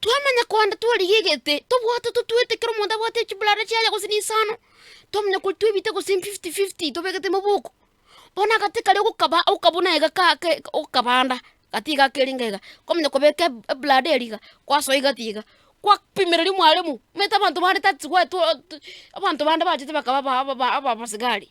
Twamanya kogenda twarigia egete, tobwate totwete kera omonto abwate chiburare chiaye gose na isano, twamanya kori twebite gose fifty fifty tobegete moboko. Bono agate karia ogokaba okabuna iga ka ke okabanda gati iga ake ringa iga, kwamanya kobeka eb- eburada eria iga, kwasoa iga tiga, kwapimereri mwaremo, omanyete abanto bande tati gwatwo tu abanto bande bachete bakaba aba- aba- abasigari.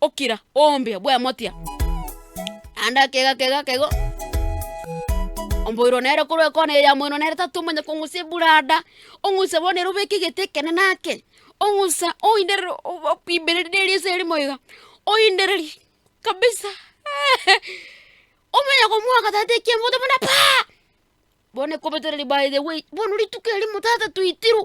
okira ombia bw'emotia, naende akega akega akega o omboiro nere korwa ekona eye ya moino nere tatomanya kong'usa eburada, ong'use bono ere obeke egete ekenene ake, ong'usa oinderere obo okwimbereri ne eriso erimo iga, oindererie kabisa omenye komwoka tata ekiambogote buna paa, bono ekobetera ribaga by the way, bono rituko erimo tata toitirwe,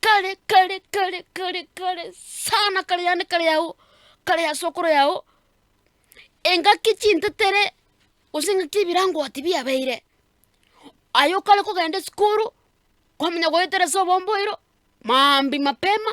kare kare kare kare kare sana kare yane kare yago kare ya sokoro yago, engaki chintetere gose engaki ebirango ati biabeire, aye okare kogenda esukuru, kwamanya goetera ase obomboiro, maambia mapema.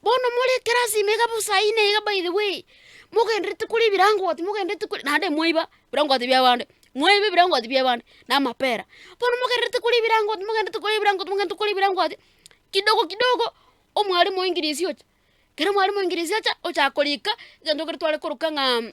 Bono more ekerasi ime iga bosa ayi naiga by the way, mogendererete koria ebirangoti mogendererete koria naende mwaiba ebirangoti bia abande, mwaiba ebirangoti bia abande na amapera, bono mogendererete koria ebirangoti mogendererete koria ebirangoti mogendererete koria ebirangoti, kidogo kidogo omwalimu o english ocha, ekero omwalimu o english acha, ochaka korika egento ekero tware koroka ng'aa.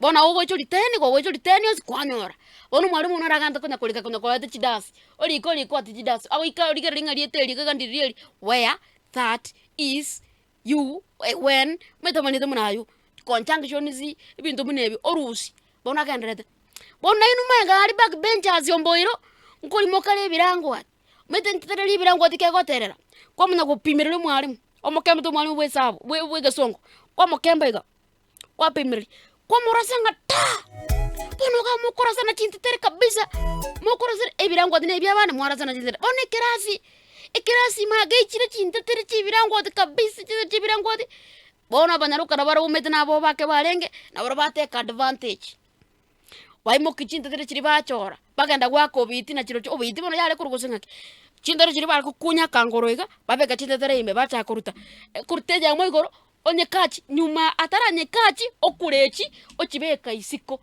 Bono naye ogocha oritee nigo ogocha oritee rionsi kwanyora. Bono omwarimu one aragante konya korika konya koreta chidansi, orike orike ogote chidansi, agoika origereri ng'a rieta eri iga ndiri rieri, where, that, is, you, when, metamaneti buna aywo, conjunctions, ebinto buna ebio, orusi, bono agenderete. Bono nainwe mwenga aria back benchers omboiro, nkorimoka ere ebirango aa, omanyete ntere ere ebirango ati kegoterera, kwamanya gopimerera omwarimu, omokembete omwarimu bwa esabu bwa bwa egesongo, kwamokemba iga. kwapemereri, kwamorasa ng'a taa! Bono iga mokorasana chinteteri kabisa, mokorasana ebirangoti na ebiabana mwarasana chinteteri. Bono ekerasi, ekerasi magechire chinteteri chia ebirangoti kabisa chinteteri chia ebirangoti, bono abanyaroka nabare baumete na abao bake barenge, nabarobwo bateka advantage, baimokia chinteteri chiria bachora, bagenda goaka obiti nachirochio, obiti bono yare korwa gose ng'aki, chinteteri chiria bare gokunya akangoro iga, babeka chinteteri ime bachaka koruta, ekoruta eyemo igoro, Onyekachi nyuma ataranyekachi okurechi ochibeka isiko.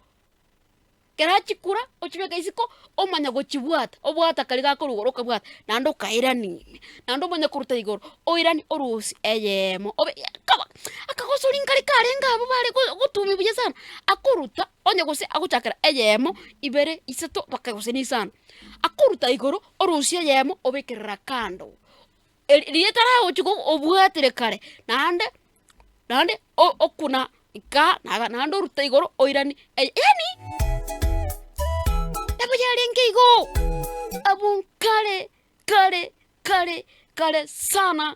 Ekero achikura ochibeka isiko omanya gochibwata obwata karia gakorugoro okabwata naende okairanin naende omanye koruta igoro oirani orusi eyemo obe ya kaba akagosori kari karenge abwo bare go gotumia buya sana akoruta onye gose agochakera eyemo ibere isato mpaka gose na isano akoruta igoro orusie eyemo obekerera kando. Eri- riria taragochia ko- obwatire kare, naende naende o- okuna nka naga naende orute igoro oirani eye yaani nabo yarenge igoo. Abwo nkare kare kare kare sana.